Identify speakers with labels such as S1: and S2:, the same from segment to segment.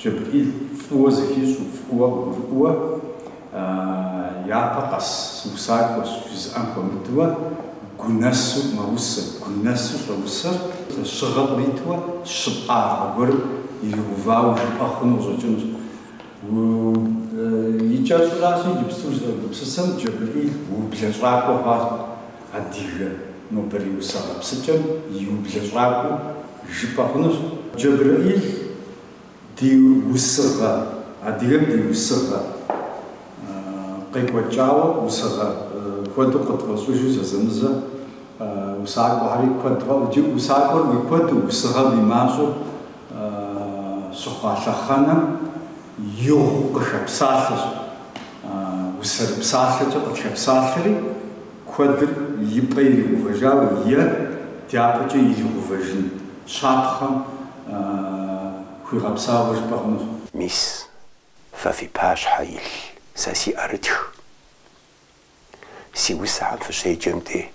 S1: Джэбрэӏил фӏыуэ зыхищӏу, фӏыуэ къыгурыӏуэу, япэ къэс сыусакӏуэщ, жызыӏэм хуэмыдэу, гу нэсу мэусэр, гу нэсу щӏэусэр. Лъэщыгъэ къриту щыпкъагъэ гуэрым иригъэувауэ жыпӏэ хъуну къыщӏэкӏынущ. И кӏэщӏращ иджыпсту сызэгупсысым Джэбрэӏил ублэщӏакӏуэ хъуащ адыгэ нобэрей усэ гъэпсыкӏэм и ублэщӏакӏуэу жыпӏэ хъунущ. Джэбрэӏил ди усыгъэ, адыгэм ди усыгъэ къекӏуэкӏауэ, усыгъэ куэду къытфӏэщӏыжу зэзэмызэ усакӏуэхэри куэд, усакӏуэр уи куэду, усыгъэр уи мащӏэу Щыхъуа лъэхъэнэм игъуэу къыхэпсалъэщ. Усэрыпсалъэкӏэ къытхэпсалъэри, куэдыр и пӏэ иригъэувэжауэ е дяпэкӏэ иригъэувэжын щапхъэм хуигъэпсауэ жыпӏэ хъунущ. Мис,
S2: фэ фи пащхьэ илъ сэ си ӏэрытх. Си усэхэм фыщеджэм де,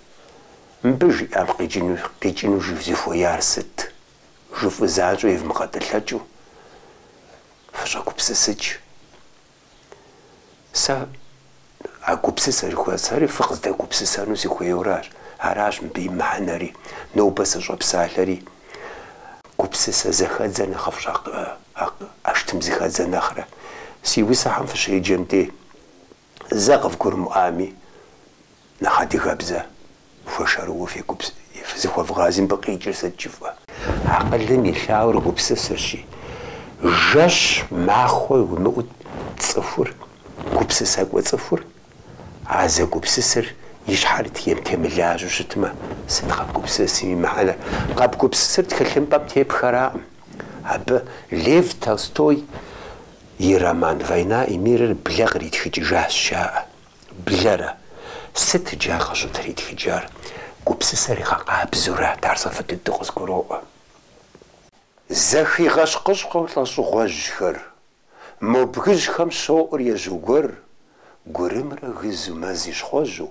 S2: мыбы жиӏам къикӏыну, къикӏыну зыхуеяр сыт? жыфӏу занщӏэу евмыгъэтӏылъэкӏыу фыщӏэгупсысыкӏ. Сэ а гупсысэ жыхуэсӏэри фыкъыздэгупсысэну сыхуейуэращ. Аращ мыбы и мыхьэнэри, нобэ сыщӏэпсалъэри. Гупсысэ зэхэдзэр нэхъыфӏщ а, а, ӏэштӏым зыхэдзэ нэхърэ. Си усэхэм фыщеджэм де, Зэ къывгурымыӏуами, нэхъ адыгэбзэ хуэшэрыуэ фегупс-, фызыхуэвгъази мыбы къикӏыр сыт жыфӏэ? Акъылым илъауэр гупсысэрщи, жэщ махуэ уимыӏут цӏыхур, гупсысэкӏуэ цӏыхур, а зэгупсысыр и щхьэр тем- темылажьэу щытмэ, сыт къэбгупсысым и мыхьэнэр? Къэбгупсысыр тхылъымпӏэм тептхэракъым. Абы Лев Толстой. и роман Война и мирыр блэ къритхыкӏыжащ, жаӏэ. Блэрэ? Сыт иджы ар къыщӏытритхыкӏар? Гупсысэр игъэкъабзэурат, ар сэ фӏы дыдэу къызгуроӏуэ. Зэхигъэщкъыщкъэу лӏэщӏыгъуэжьхэр, мо бгыжьхэм щоӏур ежьу гуэр, гурымрэ гызу мэзыщхъуэжьу,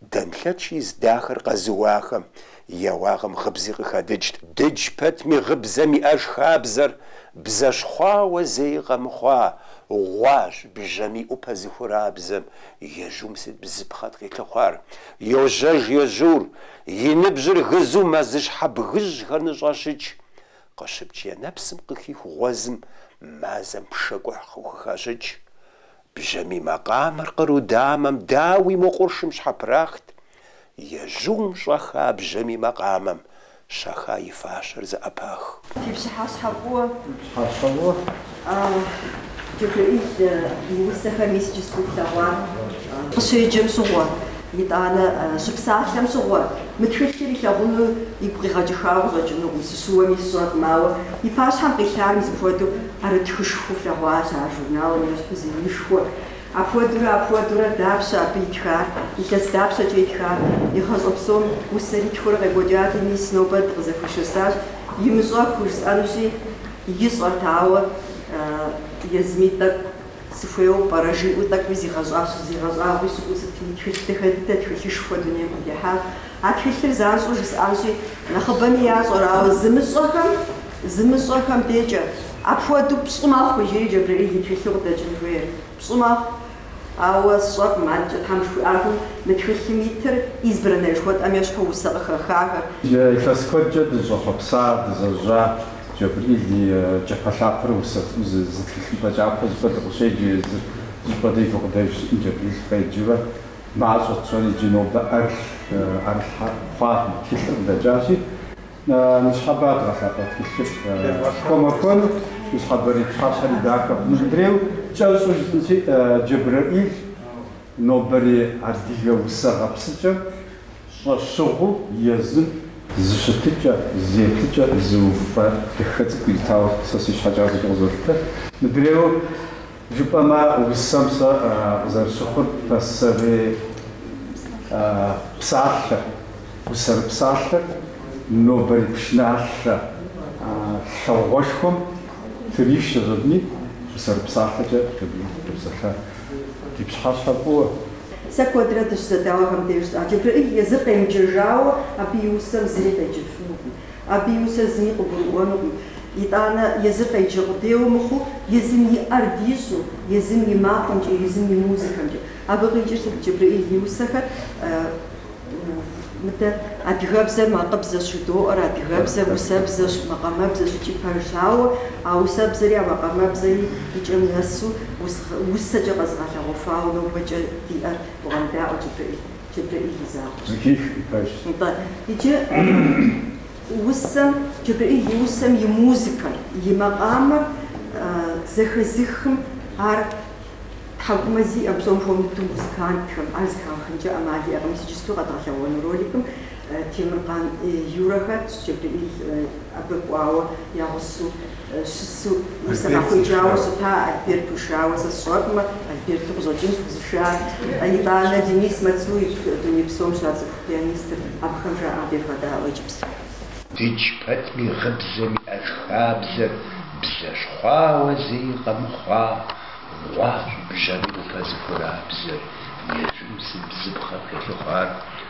S2: Данлъэч из дахэр къэзыуахэм я уагъэм гъыбзи къыхадыкӏт. Дыдж пэтми гъыбзэм иӏэж хабзэр бзэщхъуауэ зэи къэмыхъуа гъуащ бжьэм и ӏупэ зыхурабзэм ежьум сыт бзыпхъэт къилъыхъуар. Йожьэж ежьур, и ныбжьыр гызу мэзыщхьэ бгыжьхэр ныщӏещыкӏ. Къыщыпкӏ я нэпсым къыхих гъуэзым мазэм пшэкӏухь къыхухащыкӏ. Бжьамий макъамэр къру дамэм дауи мо къуршым щхьэпрахт, ежьум щӏэха бжьамий макъамэм щэха и фащэр зэӏэпах. Фи пщыхьэщхьэ
S1: фӏыуэ.
S3: Фи пщыхьэщхьэ фӏыуэ. А, Джэбрэӏил, и усэхэр мис иджыпсту тлъэгъуа? Къыщеджэм щыгъуэ, итӏанэ, щыпсалъэм щыгъуэ, мы тхылъыр илъэгъуну игу къигъэкӏыхауэ щӏэкӏынукъым, сыщыуэми сщӏэркъым, ауэ и пащхьэм къилъар мис апхуэдэу Ӏэрытхышхуэу флъэгъуащ ар журналым ещхь зы инышхуэ. Апхуэдэурэ, апхуэдэурэ, дапщэ абы итхар, илъэс дапщэкӏэ итхар? Игъащӏэ псом усэри тхурэ къекӏуэкӏати, мис нобэ дыкъызэхуишэсащ, имыщӏэхуу жысӏэнущи, ищӏэрт, ауэ езыми тӏэкӏу сыхуейуэ пӏэрэ? жиӏэу тӏэкӏуи зигъэщӏащ, зигъэщӏагъуи щыӏэу сытми, тхылъ дахэ дыдэ, тхылъышхуэ дунейм къытехьащ. А тхылъыр занщӏэу жысӏэнщи, нэхъыбэми ящӏэр, ауэ зымыщӏэхэм. Зымыщӏэхэм дежкӏэ, Апхуэдэу пщӏы мэхъу, жери Джэбрэӏил и тхылъу къыдэкӏын хуейр. Пщӏы мэхъу. Ауэ сщӏэркъым, адэкӏэ Тхьэм жыхуиӏакъым, мы тхылъым итыр избранное жыхуэтӏэм ещхьу усэ къыхэхахэр. Илъэс куэдкӏэ
S1: дыщӏэхъуэпса, дызэжьа Джэбрил и кӏапэлъапэ усэ зы тхылъымпӏэ кӏапэ зыпӏэ дей къыщеджэ езыр. Зыпӏэ дей и гукъыдэж щытым Джэбрил къеджэурэ мащӏэт тщӏэри иджы нобэ ӏэрылъ, ӏэрылъхьэ хъуа мы тхылъыр къыдэкӏащи, Ныщхьэбэ дгъэлъапӏэ тхылъыр хуэмахуэну, ныщхьэбэрей пщыхьэщхьэри дахэ хъуну. Мыдрейуэ кӏэщӏу жысӏэнщи, Джэбрэӏил нобэри адыгэ усэ гъэпсыкӏэм щӏэщыгъуэу езым зы щытыкӏэ, зы еплъыкӏэ, зы уфэ дахэ цӏыкӏу иритауэ сэ си щхьэкӏэ апхуэдэу къызолъытэ. Мыдрейуэ Жыпӏэмэ, усэм сэ къызэрысщыхъур пасэрей псалъэ, усэрыпсалъэр нобэрей пшыналъэ лъагъуэшхуэм тырищ ежьэдыни, усэрыпсалъэкӏэ къепсэлъа. Ди пщыхьэщхьэ фӏыуэ. Сэ куэдрэ
S3: дыщызэдауэхэм деж жысӏащ, Джэбрэӏил езыр къемыджэжауэ, абы и усэм зыри къеджэфынукъым. Абы и усэр зыми къыгурыӏуэнукъым. Итӏанэ, езыр къеджэ къудейуэ мыхъуу, езым и ӏэр дищӏу, езым и макъымкӏэ, езым и музыкэмкӏэ. Абы къикӏыр сыт? Джэбрэӏил и усэхэр, мыдэ, адыгэбзэр макъыбзэщ жыдоӏэр, адыгэбзэр усэбзэщ, макъамэбзэщ икӏи пэжщ. Ауэ а усэбзэри а макъамэбзэри и кӏэм нэсу, усэкӏэ къэзыгъэлъэгъуэфауэ нобэкӏэ диӏэр бгъэдаӏуэ Джэбрэӏил. Джэбрэӏил и закъуэщ. Иджы усэм, Джэбрэӏил и усэм и музыкэр, и макъамэр зэхэзыхым, ар тхьэкӏумэ зиӏэу, псом хуэмыдэу музыкантхэм ар зыхагъэхынкӏэ ӏэмал иӏэкъым, иджыпсту къэдгъэлъэгъуэну роликым. Темыркъан Юрэхэр, Джэбриӏил абы кӏуауэ я гъусэу щысу усэ къахуеджауэ щыта Альберт ушауэ, сэ сщӏэкъымэ, Альберту къыщӏэкӏынщ къызышар. Итӏанэ, Денис Мацуев, дуней псом щацӏыху пианистыр, абыхэм жаӏэм девгъэдаӏуэ иджыпсту.
S2: Дыдж пэтми гъыбзэм иӏэж хабзэр бзэщхъуауэ зэи къэмыхъуа гъуащ бжьэмыӏупэ зыхуэрабзэр ежьым зы бзыпхъэ хэлъыхъуар.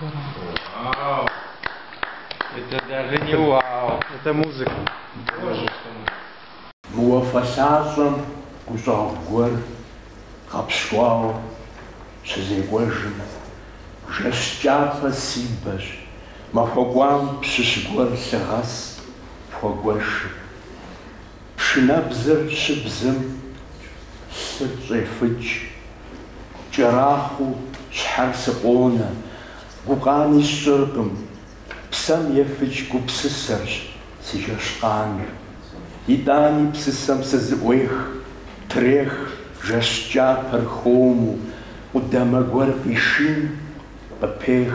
S4: Вау! Это даже не вау. Это музыка. Боже ж ты мой.
S5: Мы уафэ лъащӏэм гущӏэгъу гуэр гъэпщкӏуауэ щызекӏуэжым, жэщ кӏапэ си бэщ, махуэ кӏуам пщыщ гуэр лъы гъэс пхуэгуэшым. Пшынэбзэр щыбзэм лъыр щӏефыкӏ. Кӏэрахъуэу щхьэр сыкъонэ, гукъани сщӏыркъым. Псэм ефыкӏ гупсысэрщ си жэщкъаныр. Итӏани псысэм сызыӏуех, трех жэщ кӏапэр хуэму, къудамэ гуэр къишин, къыпех.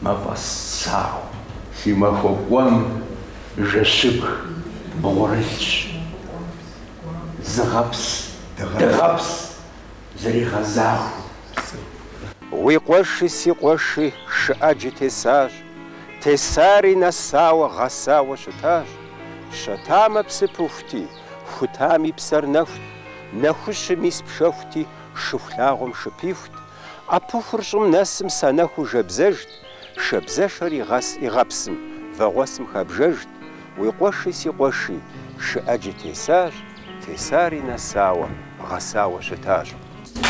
S5: Мафӏэс сауэ си махуэ кӏуэм жэщыбг бгъурылъщ. Зыгъэпс, дыгъэпс зэригъэзахуэу.
S2: Уи къуэши си къуэши шы ӏэджи тесащ, тесари нэсауэ, гъэсауэ щытащ. Щэтамэ псы пыхути, хутами псэр нэхут, нэхущым ис пшэхути, шыхулъагъуэм шы пихут, ӏэпыхур щӏым нэсым санэхуу жэбзэжт, шабзэшэр игъэс игъэпсым, вагъуэсым хабжэжт, уи къуэши си къуэши, шы ӏэджи тесащ, тесари нэсауэ, гъэсауэ щытащ.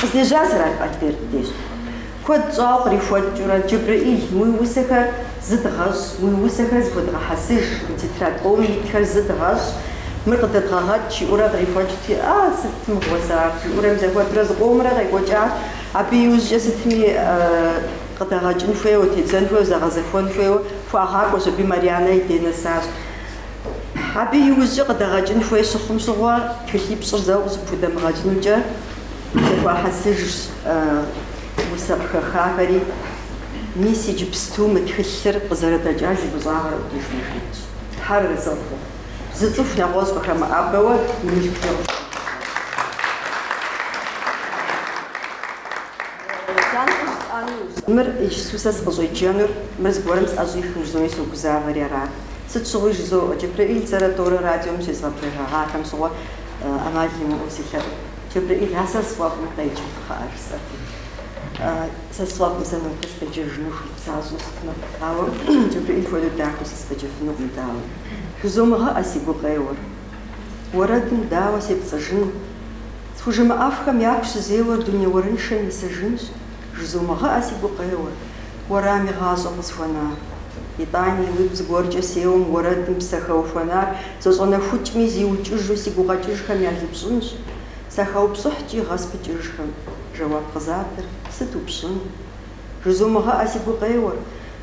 S2: Къыздежьар
S3: Сэралъп Альберт деж куэд щӏауэ кърихуэкӏыурэ, Джэбрэӏил, уи усэхэр Зыдгъэщӏ, уи усэхэр зыхуэдгъэхьэсыж, уи тетрадь къомым итхэр зыдгъэщӏ, мыр къыдэдгъэгъэкӏ, жиӏэурэ кърихуэкӏти, а, сыт мыгъуэ сэ ар, жиӏэурэ мызэхуэдурэ зыкъомрэ къекӏуэкӏат, абы иужькӏэ сытми къыдэгъэкӏын хуейуэ, тедзэн хуейуэ, зэгъэзэхуэн хуейуэ, хуагъакӏуэщ, абы Марьянэ и дей нэсащ. Абы иужькӏэ къыдэгъэкӏын хуей щыхъум щыгъуэ, тхылъипщӏыр зэуэ къыщыпхудэмыгъэкӏынукӏэ, зэхуахьэсыжщ усэ къыхэхахэри. Мис иджыпсту мы тхылъыр къызэрыдэкӏар зи фӏыщӏагъэр Ӏутӏыж Марьянэщ. Тхьэр арэзы хъу, зы цӏыху нэгъуэщӏ къыхэмыӏэбэуэ и мылъкукӏэ къыщӏигъэхьэзыру. Мыр иджыпсту сэ сыкъыщӏеджэнур, мыр зыгуэрым сӏэщӏихыну жызои согузавэри арат. Сыт щыгъуи жызоӏэ, Джэбрэӏил зэрэ тӏорэ радиом щезгъэблэгъахэм щыгъуэ ӏэмал имыӏэу селъэӏу. Джэбрэӏил, а сэ сфӏэфӏым къеджэ, кхъыӏэ, жысӏэти. Сэ сфӏэфӏым сэ нобэ сыкъеджэжыну хуит сащӏэу щытмэ, ауэ Джэбрыӏил хуэдэу дахэу сыкъеджэфынукъым, дауи. Жызумыгъэӏэ си гукъеуэр. Уэрэдым дауэ сепцӏыжыну? Схужымыӏэфхэм яку щызеуэр дуней уэрыншэм исыжынщ, жызумыгъэӏэ си гукъеуэр, уэрам игъащӏэу къысхуэнар. Итӏани, уигу зыгуэркӏэ сеуэм уэрэдым псэ хэухуэнар зэщӏэнэхукӏми, зиукӏыжу си гукъэкӏыжхэм ялыпщӏынщ. Сахэупщӏыхькӏи гъэ спыкӏыжхэм жэуап къызатыр сыт упщӏын? Жызумыгъэӏэ си гукъеуэр,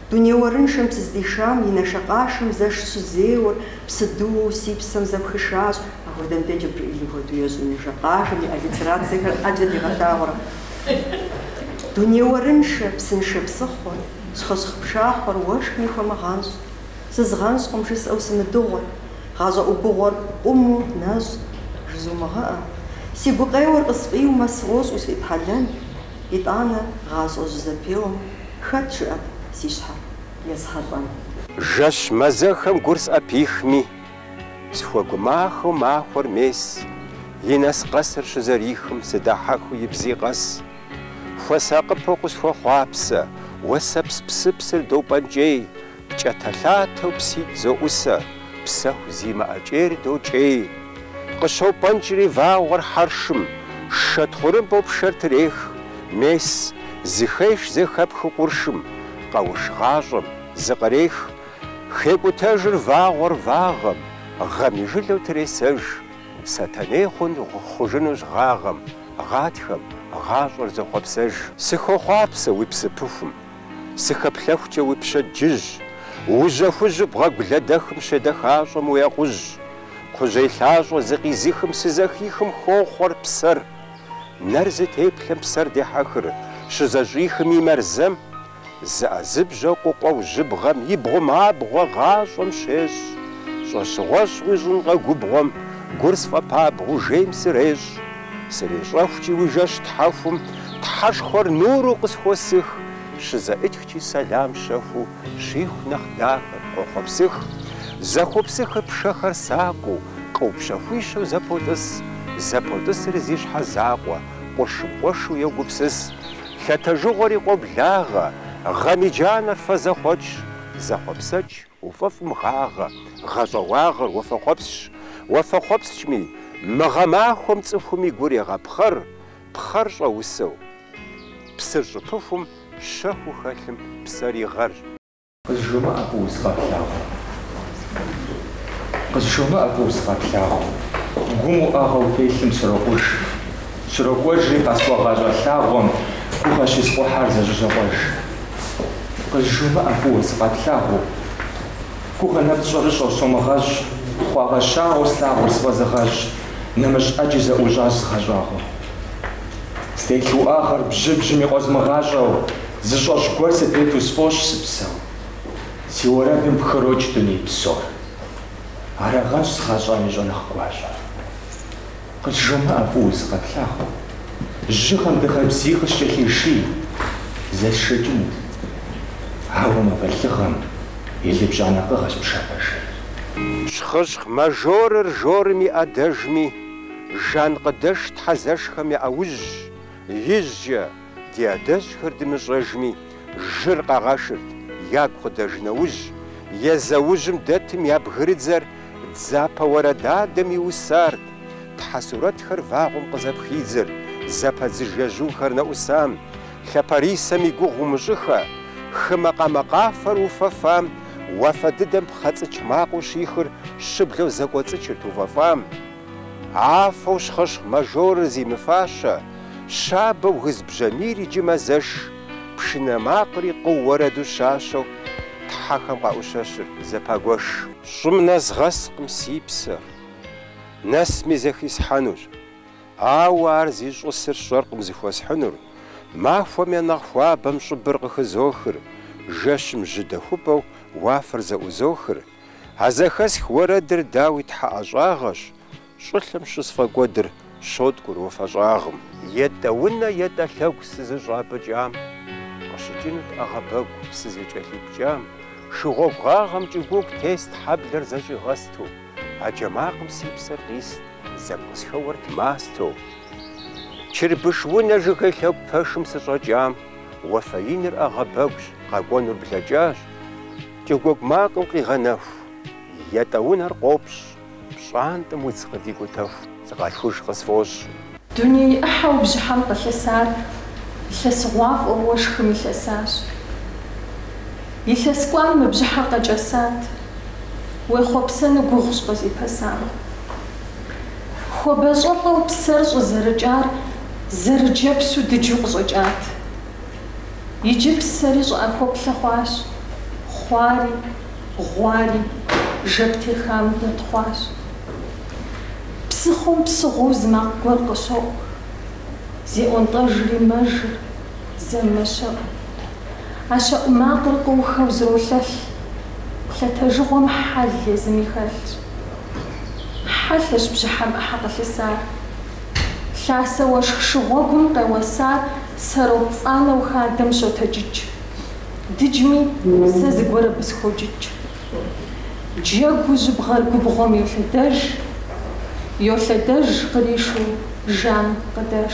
S3: дуней уэрыншэм сыздишам и нэшэкъашэм зэш щызеуэр псыдыуэу си псэм зэпхышащ, апхуэдэм деж Джэбрыӏилым хуэдэу ещӏ и нэшэкъашэм и аллитерацэхэр ӏэджэ дигъэлъагъурэ. Дуней уэрыншэ, псыншэ псыхъуэр, щхъыщхъ пшахъуэр уэшхми хуэмыгъэнщӏ. Сызгъэнщӏкъым жысӏэу сымыдыгъуэр. Гъащӏэ ӏубыгъуэр къуму нэщӏ, жызумыгъэӏэ. Си гукъеуэр къысфӏиумэ, сфӏощӏ усфӏитхьэлэн. Итӏанэ гъащӏэ жьызэпеуэм хэт жыӏэт си щхьэр есхьэлӏэн? Жэщ
S2: мазэхэм гур сӏэпихми, схуэгумахэу махуэр мес и нэс къэсыр щызэрихым сыдахьэхыу и бзи къэс. Хуэсакъыпэу къысхуэхъуапсэ, уэсэпс псыпсыр допӏэнкӏей. Кӏэтэлъатэу пситӏ зоӏусэ, псэху зимыӏэ кӏейр докӏей. Къыщопӏэнкӏри вагъуэр хьэршым, шэ тхъурымбэу пшэр трех, мес, зыхеш зэхэпхыу къуршым, къэуш гъащӏэм, зыкърех. Хекӏутэжыр вагъуэр вагъэм, гъэм и жылэу тресэж. Сэтэней хъун хъужынущ гъагъэм, гъатхэм, гъащӏэр зохъуэпсэж. Сыхохъуапсэ уи псыпыхум, Сыхэплъэхукӏэ уи пщэдджыжь, Ужьэ хужьу бгъэгу лэдэхым Щедэхащӏэм уи акъужь. Кхъужьей лъащӏэ зыкъизыхым Сызэхихым хохъуэр псэр. Нэр зытеплъэм псэр дехьэхыр, Щызэщӏихым и мэрзэм. Зыӏэзыбжьэу къукъуэу жьыбгъэм И бгъум абгъуэ гъащӏэм щещӏ. Щӏэщыгъуэ щуищӏынкъэ губгъуэм, Гур сфӏэпабгъэу жейм сырещӏ. Срещӏэхукӏи уи жэщ тхьэхум, Тхьэшхуэр нуру къысхуэсых, Щызэӏытхкӏи сэлам щэхуу, Щиху нэхъ дахэр къохъуэпсых. Зэхуэпсыхыр пшэхэр сакъыу, Къыу пщэхуищэу зэпотӏыс, Зэпотӏысри зи щхьэ закъуэ, Къуршым къуэшу йогупсыс. Лъэтэжыгъуэри къоблагъэ, Гъэм и джанэр фэзэхъуэкӏщ, Зэхъуэпсэкӏ, Уфӏэфӏым гъагъэ, гъэщӏэгъуагъэр уафэхъуэпсщ. Уафэхъуэпскӏми, мы гъэмахуэм цӏыхум и гур егъэпхъэр, пхъэр щӏэусэу. Псыр щӏыпыхум, щэхуу хэлъым псэр и гъэрщ.
S5: Къызжумыӏэ фӏыуэ сыкъэплъагъуу. Къызжумыӏэ фӏыуэ сыкъэплъагъуу. Гум уӏэгъэу телъым срокъуж, Срокӏуэжри къэсхуэгъащӏэ лъагъуэм гугъэ щиспхъыхьар зэщызокъуэж. Къызжумыӏэ фӏыуэ сыкъэплъагъуу. Гугъэ нэпцӏ щӏэрыщӏэу сомыгъэщӏ, хъуагъэщагъэу слъагъур сфӏэзыгъэщӏ, нэмыщӏ ӏэджи зэӏущӏащ згъэщӏагъуэу. Стелъ уӏэгъэр бжьыбжьми къозмыгъащӏэу, зыщӏэщӏ гуэр сытету сфӏощӏ сыпсэу. Си уэрэдым пхырокӏ дуней псор. Арагъэнщ згъэщӏам и щӏэныгъ гуащӏэр. Къызжумыӏэ фӏыуэ сыкъэплъагъуу. Жьыгъэм дыгъэ бзий къыскӏэлъиший, зэсшэкӏынут. Ауэ мафӏэ лыгъэм илыпщӏа нэкъыгъэщ пшапэ жейр.
S2: Щхъыщхъ мажорыр жорым и ӏэдэжми, жанкъыдэш тхьэзэшхэм я ӏэужьщ, ижькӏэ. Ди адэжьхэр дымыщӏэжми, жыр къагъэшырт, ягу къыдэж нэужь, езэужьым дэтым я бгырыдзэр дзапэ уэрэдадэм иусарт, тхьэ сурэтхэр вагъуэм къызэпхидзыр, зэпэдзыж ежьухэр нэӏусам, лъапэрисэм и гугъу умыщӏыхэ, хы макъамэ къафэр уфэфам, уафэ дыдэм пхъэцӏыч макъыу щихыр щыблэу зэкӏуэцӏычырт уфэфам. Афэу щхъыщхъ мажорыр зимыфащэ, щабэу гыз бжьамийр иджы мэзэш, пшынэ макъри къыу уэрэду щащэу тхьэхэм къаӏущэщыр зэпагуэш. Щӏым нэзгъэскъым си псэр, нэсми зэхисхьэнущ, ауэ ар зищӏысыр сщӏэркъым зыхуэсхьынур, махуэм я нэхъ хуабэм щӏыбыр къыхызохыр, жэщым жьыдэхупӏэу уафэр зэӏузохыр, А зэхэсх уэрэдыр дауи Тхьэ ӏэщӏагъэщ, щӏылъэм щысфӏэкӏуэдыр щоткӏур уафэ щӏагъым. Етӏэ унэ, етӏэ лъэгу сызыщӏапӏыкӏам, къыщыкӏынут ӏэгъэбэгу сызыкӏэлъипкӏам, шы гъуэгу гъагъэм кӏыгуугу тест хьэблэр зэщӏигъэсту, а джэ макъым си псэр къист зэ къысхэуэрт мастэу. Чырбыш унэ жыгей лъэгу пэшым сыщӏэкӏам, уафэ иныр ӏэгъэбэгущ, къэкӏуэнур блэкӏащ. Кӏыгуугу макъым къигъэнэху, етӏэ унэр къопщ, пщӏантӏэм удз къыдикӏутэху, сыкъалъхуж къысфӏощӏ. Дуней
S6: ӏыхьэу бжьыхьэм къылъысар илъэсыгъуафӏэу уэшхым илъэсащ. Илъэс кӏуам мы бжьыхьэр къэкӏэсат, уехъуэпсэну гугъущ къызипэсам. Хуабэ щӏэлӏэу псэр щӏызэрыкӏар зэрыджэпсу дыджу къыщӏэкӏат. Иджы псэри щӏыӏэхуэплъэ хъуащ, хъуари, гъуари, жэп техам дэтхъуащ. Псыхъуэм псыгъуэу зы макъ гуэр къыщоӏу, зеӏуэнтӏэжри мэжыр, зэ мэщэӏу. А щэӏу макъыр къыухэу зролъэлъ, лъэтэжыгъуэм хьэл езыми хэлъщ. Хьэлъэщ бжьыхьэм ӏыхьэ къылъысар. Лъасэ уэшх шыгъуэгум къеуэсар. Зэрыпцӏанэу хадэм щотэджыкӏ. Дыджми, сэ зыгуэр абы схокӏыкӏ. Джэгуу жьыбгъэр губгъуэм йолъэдэж, Йолъэдэж къришу жан къыдэж.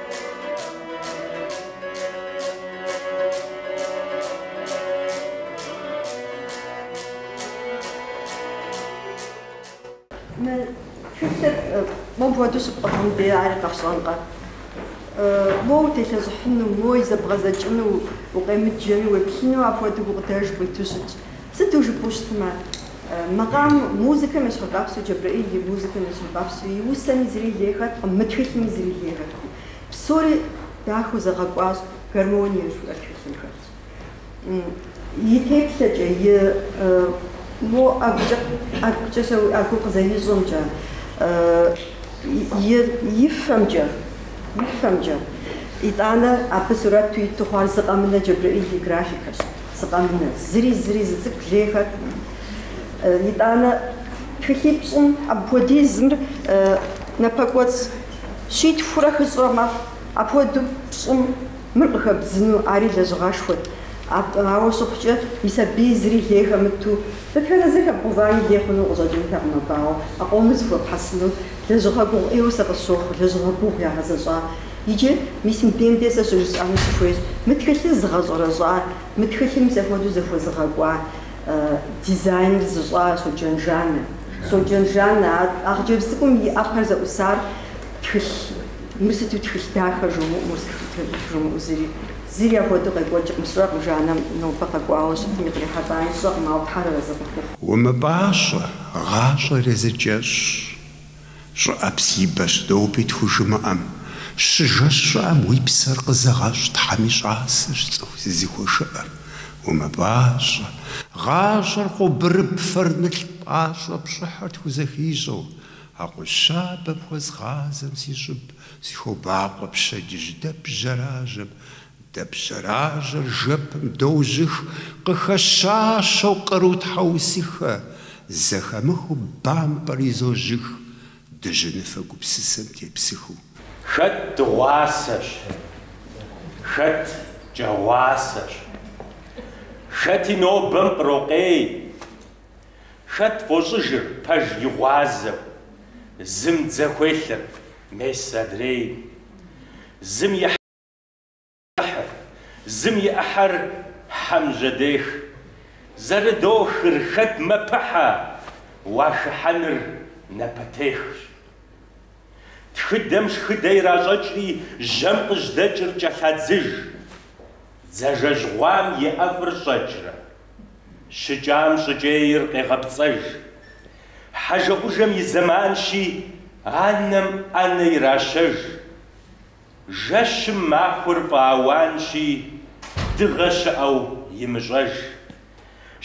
S3: Тхылъыр моу хуэдэу щыпӏыгъым де ари къэфщӏэнкъэ? Моу утелъэщӏыхьыну, моу и, зэбгъэдзэкӏыну укъемыджэми, уеплъыну апхуэдэу гукъыдэж къуиту щытщ. Сыту жыпӏэу щытмэ, макъам музыкэм ещхьыркъэпсу Джэбрэӏил и музыкэм ещхьыркъэпсу и усэми зыри лей хэткъым, мы тхылъми зыри лей хэткъым. Псори дахэу зэгъэкӏуащ, гармоние жыхуиӏэр тхылъым хэлъщ. И теплъэкӏэ, и мо ӏэгукӏэ, ӏэгукӏэ щауи ӏэгу къызэрищӏэмкӏэ, и, и фэмкӏэ, и фэмкӏэ. Итӏанэ абы сурэту иту хъуар зы къэмынэу Джэбрэӏил и графикэщ. Зы къэмынэу, зыри, зыри зы цӏыкӏу лей хэткъым. Итӏанэ тхылъипщӏым апхуэдизым мыр напэкӏуэцӏ щитхурэ хыщӏрэ мэхъу, апхуэдэу пщӏым мыр къыхэбдзыну ари лэжьыгъэшхуэт. Ауэ щыхъукӏэ, и сабий зыри лей хэмыту, дэтхэнэ зыр хэбгъувами лей хъуну къыщӏэкӏынтэкъым абы, ауэ, а къомыр зыхуэпхьэсыну лэжьыгъэ гугъу ӏейуэ сэ къысщохъу, лэжьыгъэ гугъу ягъэзэщӏа Иджы мис мыбдем де сэ щыжысӏэну сыхуейщ, мы тхылъыр зыгъэщӏэрэщӏар, мы тхылъым мис апхуэдэу зэхуэзыгъэкӏуа дизайныр зыщӏар Соджэн Жаннэ. Соджэн Жаннэ, а хъыджэбз цӏыкӏум и ӏэпэр зэӏусар тхылъ, мыр сыту тхылъ дахэ жумыӏэу, жумыӏэу зыри, зыри апхуэдэу къекӏуэкӏкъым сщӏэкъым, Жаннэм нобэ къэкӏуауэ щытми къырихьэлӏами сщӏэкъым, ауэ Тхьэр арэзы къыхухъу. Умыпӏащӏэ,
S2: гъащӏэр езы кӏэщӏщ. Щӏыӏэпс и бэщ доуби тхужымыӏэм, щыжэщ щӏыӏэм уи псэр къызэгъэщӏ Тхьэм и щӏасэщ цӏыху зызыхуэшыӏэр, умыпӏащӏэ, гъащӏэр къобырыб фэр нылъ пӏащӏэ пщӏыхьыр тхузэхищӏэу, акъужь щабэм хуэзгъазэм си щӏыб сыхобакъуэ пщэдджыжь дэп жьэражьэм Дэп жьэражьэр жэпым дожьых, къыхэщащэу къру тхьэусыхэ, зэхэмыхыу бампӏэр изожьых, дыжьыныфэ гупсысэм тепсыхыу. Хэт
S7: дыгъуасэщ, хэт кӏэгъуасэщ, хэти нобэм ирокъей, хэт фӏощӏыжыр пэж и гъуазэу, зым дзэ хуелъыр мес адрей, зым и. Хьэхыр, зым и ӏыхьэр хьэм жьэдех. Зэрыдохыр хэт мэпыхьэ, уахыхьэныр напэтехщ. Тхыдэм шхыдэ иращӏэкӏри жьэм къыжьдэкӏыр кӏэлъадзыж. Дзажэжь гъуам и ӏэфӏыр щӏэкӏрэ. Щыкӏам щӏыкӏейр къегъэпцӏэж. Хьэжэӏужэм и зэманщи, анэм ӏэнэ иращэж. Жэщым махуэр фӏэауанщи, дыгъэ щыӏэу имыщӏэж.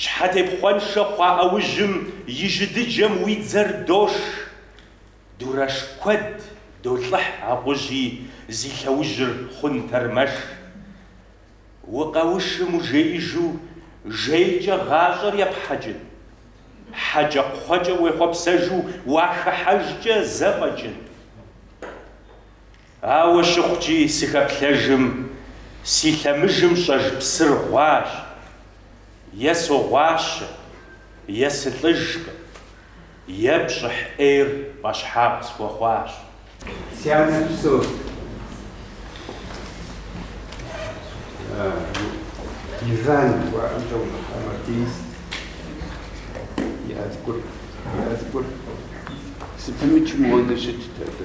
S7: Щхьэтепхъуэншэ хъуа ӏэужьым и жьы дыджым уи дзэр дош. Дурэш куэд долӏыхь акъужьи зи лъэужьыр хъун тэрмэш. Укъэушым ужеижу жейкӏэ гъащӏэр епхьэкӏын. Хьэкӏэкхъуэкӏэ уехъуэпсэжу уахыхьэжкӏэ зэфӏэкӏын. Ауэ щыхъукӏи, сыхэплъэжым, си лъэмыжым щӏэж псыр гъуащ. Е согъуащэ, е сылӏыжкъым, е пщӏыхь ӏейр пӏэщхьагъ схуэхъуащ. Си анэр псор
S8: Иван жыхуаӏэм щӏэувыхьа мартинист и ӏэзгур. И ӏэзгур сыпымычым уонэ щытт абы.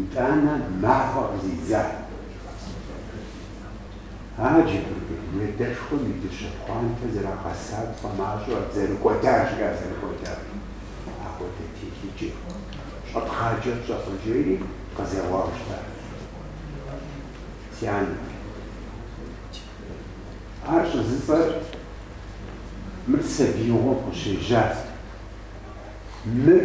S8: Итӏанэ махуэ къызидза Аджэбыргэ уредэшхуэм и дыщэ пхъуантэ зэрагъэса тхъуэмащӏэ зэрыкӏуэда жиӏа зэрыкӏуэда апхуэдэ телъыджэ щӏэпхъаджэ пщӏэфӏыжейри къызэуауэ щытащ. Си анэ, ар щӏызыфӏэр мыр сабиигъуэм къыщежьат. Мыр.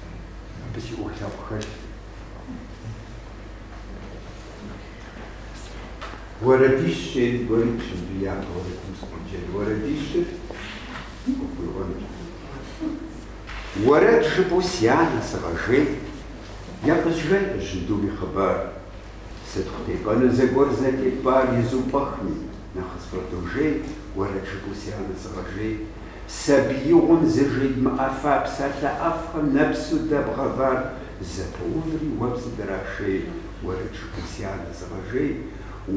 S8: Абы си ӏуэху лъэпкъ хэлъщ. Уэрэдищ щӏейм гуэри пщэдджыжь япэ уэрэдым сыкъоджэн. Уэрэдищыр къыпхуиӏуэнущ. Уэрэд жыпӏэу си анэ сыгъэжей, япӏыжьэнкъэ жьындум и хъыбар. сытхъу тепӏэну зэгуэр зэтепӏар изупӏэхми, нэхъыц фӏэдожей, уэрэд жыпӏэу си анэ сыгъэжей. Сабиигъуэм зэжедмыӏэфа псалъэ ӏэфӏхэм нэпсу дэбгъэвар зэпэуври уэ псыдрашей, уэрэд жыпӏэу си анэ сыгъэжей.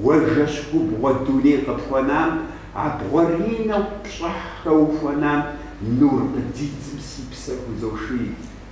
S8: Уэ жэщ губгъуэ дуней къыпхуэнам, абгъуэрынэу пщӏыхь хэухуэнам нур къыдидзым си псэр хузоший.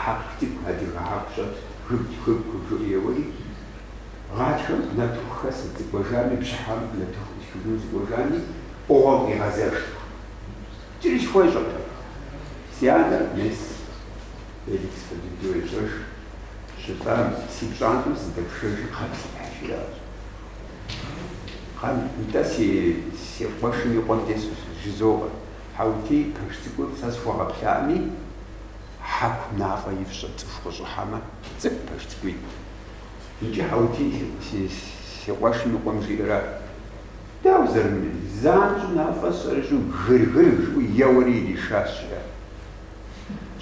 S8: Хьэку цӏыкӏу, адыгэ хьэку щӏэт, гыб, гыб, гыб, жиӏэу еуэри, гъатхэм нартыху хэсэ сыкӏуэжами, бжьыхьэм нартыху ӏусхыжыну сыкӏуэжами, ӏугъуэм къигъэзэжт. Кӏри схуещӏэркъым. Си анэр мес Феликс Фадыдэу ещӏэж, щытӏам, си пщӏантӏэм сыздэпшэжыр кхъэм сипхьыж, жиӏащ. Кхъэм, нтӏэ, си, си къуэшым и къуэм тесу жызоӏэ. Хьэутей пэш цӏыкӏур сэ схуэгъэплъами, хьэку нафӏэ ифщӏэ цӏыху къыщӏыхьэмэ, цӏыкӏу пэш цӏыкӏуитӏ. Иджы Хьэутей си къуэшым и къуэм жиӏэрэ, дауэ зэрымыри, занщӏэу нафӏэ сщӏэрыщӏу гыр-гыр жиӏэу еуэри иришащ, жиӏэр.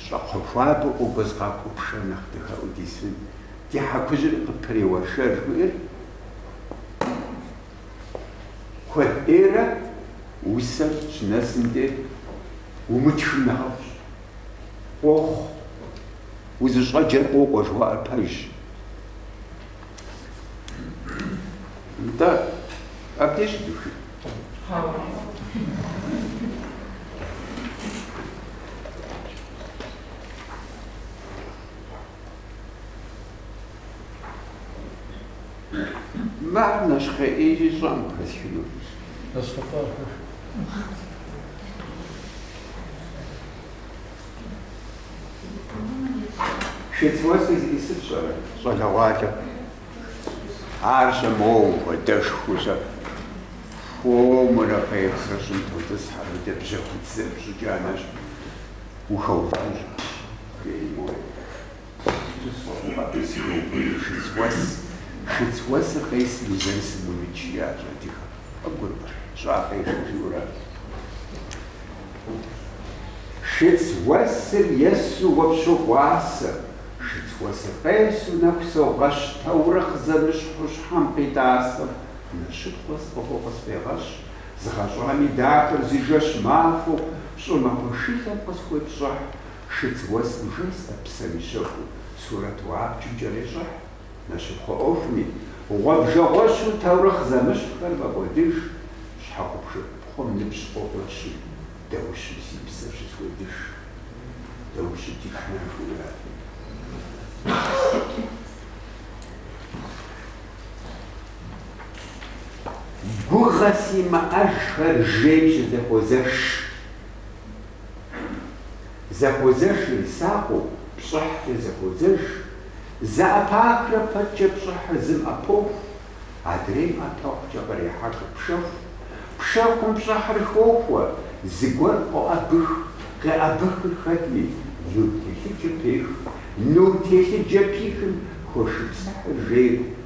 S8: Щӏакхъуэ хуабэу къокӏуэз къакӏуэу пшэр нэхъ дахэӏуу дисын, ди хьэкужьыр къыпреуэршэ жыхуиӏэр. Куэд ӏейрэ усэр щынэсым де умытхым нэхъыфӏщ. Къохъу, узыщӏэджэр къокӏуэ жыхуаӏэр пэжщ. Нтӏэ, абдеж щыдухын? Мар нэщхъеижи щӏэм хэлъхыну. Шыц уэсыр зищӏысыр фщӏэрэ, щӏалэгъуалэ? Ар щэ моуэ хуэдэшхуэу щэ хуэмурэ къехурэ щӏым тотӏысхьэ, мыдэ бжьэхуцыр пщӏыкӏэ анэщ, ухэувэнущ, жери моуэ. Абы сыхуеубыдыр шыц уэс. Шыц уэсыр къесмэ узэрысым уимыкӏ, жиӏащ адыгэм. Къыбгурымэ, щӏакъэ ешэ жиӏэурэ абы. Шыц уэсыр есу уэ пщогъуасэ, шыц уэсыр къесу нэху согъэщ таурыхъ зэмыщхьу щхьэм къитӏасэм. Мы шыц уэс фӏыгъуэ къысфӏегъэщӏ, згъэщӏами дахэр зы жэщ махуэу щӏымахуэ шылэм къысхуепщӏыхь, Шыц уэсым жэстэ псэм и щэху сурэту абджым кӏэрещӏыхь, нэщыпхъуэ ӏуэхуми, гъуэбжэгъуэщу таурыхъ зэмыщхьхэр мэкӏуэдыж, щхьэгъубжэ ӏупхъуэм ныбжь къокӏуэщи, даущым си псэр щысхуедыж. Даущи дишнэ жиӏэ. Гугъэ симыӏэжхэр жейм щызэхуозэж. Зэхуэзэжыр сакъыу, пщӏыхькӏэ зэхуэзэж. Зэӏэпахрэ пэткӏэ пщӏыхьыр зым ӏэпоху, адрейм ӏэпэхукӏэ кърехьэхыр пшэху. Пшэхум пщӏыхьыр хохуэ, зыгуэр къоӏэбых, къеӏэбыхыр хэтми, нур телъыджэ пех. Нур телъыджэ пихым хошыпсыхьыр жейр.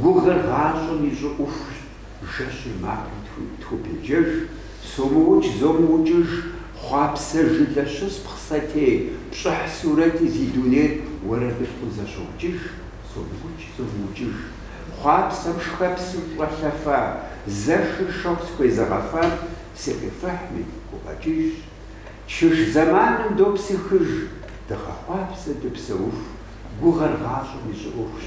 S8: Гугъэр гъащӏэм и щӏыӏухущ, жэщыр макъым тхубеджэж, сомыукӏ, зомыукӏыж, хъуапсэ жылэ щыспхъ сэтей, пщӏыхь сурэти зи дунейр уэрэдылъкъу зэщокӏыж, сомыукӏ, зомыукӏыж, хъуапсэм шхэпсым щӏэлъэфа, зэшыр шэху схуезыгъэфам сыкъифыхьми, гукъэкӏыжщ. Чыж зэманым допсыхыж, дыгъэхъуапсэ дыпсэуху, гугъэр гъащӏэм и щӏыӏухущ.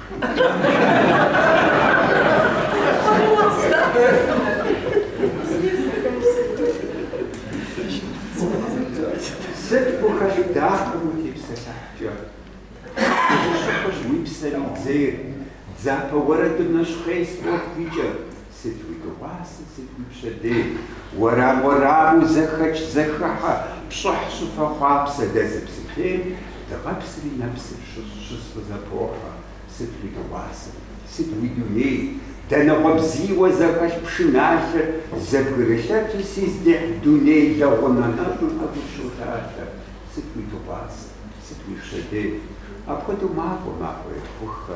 S8: Сыт къыхэщӏын дахэм утепсэлъыхькӏэ? Дыщыхъущ уи псэм и дзейр, дзапэ уэрэдым нэщхъей спорт икӏыр, Сыт уи дыгъуасэ, сыт уи пщэдей? Уэрам уэраму зэхэкӏ, зэхыхьэ, пщӏыхь щӏыфэ хъуапсэ дэ зыпсытейм, дыгъэпсри нэпсыр щысфӏызэпохьэ, сыт уи дыгъуасэ, сыт уи дуней, данэгъуэ бзийуэ зэхэлъ пшыналъэр зэбгрылъэти, си здихь дуней лэгъунэ нэщӏым ӏэгур щолъалъэ, сыт уи дыгъуасэ, сыт уи пщэдей? Апхуэдэу макӏуэ, макӏуэ ехуххэ,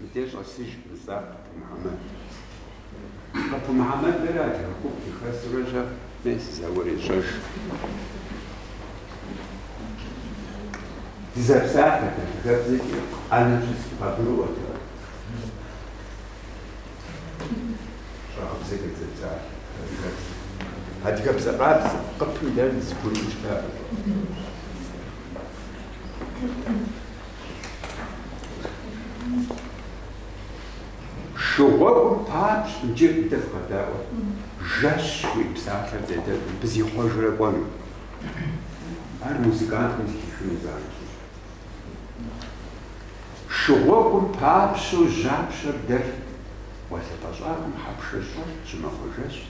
S8: Мыдэ щӏэсыж, жысӏа Къып Мухьэмэд. Къып Мухьэмэдрэ адыгэ гуп зыхэсурэ щӏэф нэи сызэӏурещӏэж. Дызэпсалъэт адыгэбзэкӏэ ӏэнэ щызэбгъэгурыӏуэт ар. Щӏэгъыбзэ къедзэпсалъэ адыгэбзэ. Адыгэбзэ къабзэ, Къыпым дэр зыгур ищтакъым. Шыгъуэгум папщ иджы дэ фыкъэдаӏуэ. Жэщ уи псалъэр зедэтым бзихъуэжрэ кӏуэну. Ар музыкантым зыхихыну занщӏэщ. Шыгъуэгум папщэу жьапщэр дэлът. Гъуэлъыпӏэ щӏагъым хьэпшэ щӏэлът, щымахуэ жэщт,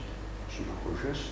S8: щымахуэ жэщт.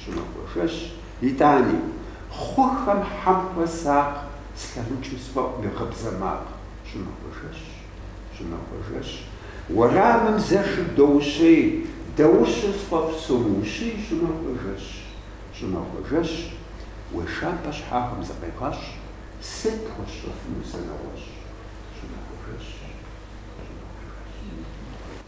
S8: Щӏымахуэ жэщ, итӏани, хъухэм хьэм хуэсакъ слъэмыкӏым сфӏэӏу мы гъыбзэ макъ. Щӏымахуэ жэщ, щӏымахуэ жэщ, уэрамым зэшыр доущей, даущэу сфӏэфӏ сомыущий, щӏымахуэ жэщ, щӏымахуэ жэщ, уешапӏэ щхьагъым зыкъегъэщӏ, сыт пхуэсщӏэфыну сэ нэгъуэщӏ, щӏымахуэ жэщ, щӏымахуэ жэщ.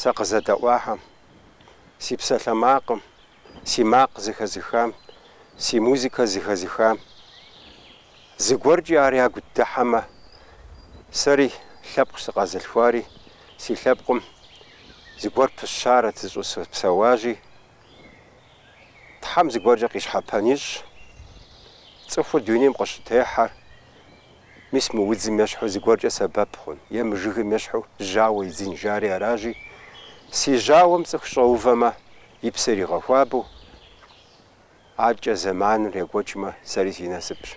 S2: Сэ къызэдэӏуахэм, си псалъэмакъым, си макъ зыхэзыхам, си музыкэ зыхэзыхам, зыгуэркӏи ар ягу дыхьэмэ, сэри лъэпкъ сыкъэзылъхуари, си лъэпкъым зыгуэр пыщарэт зыщӏыспсэуащи, Тхьэм зыгуэркӏэ къищхьэпэн ищӏ, цӏыхур дунейм къыщытехьэр Мис мы удзым ещхьу зыгуэркӏэ сэбэп хъун, е мы жыгым ещхьу жьауэ идзын жари аражи, си жьауэм цӏыху щӏэувэмэ, и псэр игъэхуабэу, аркӏэ зэманыр екӏуэкӏмэ, сэри си насыпщ.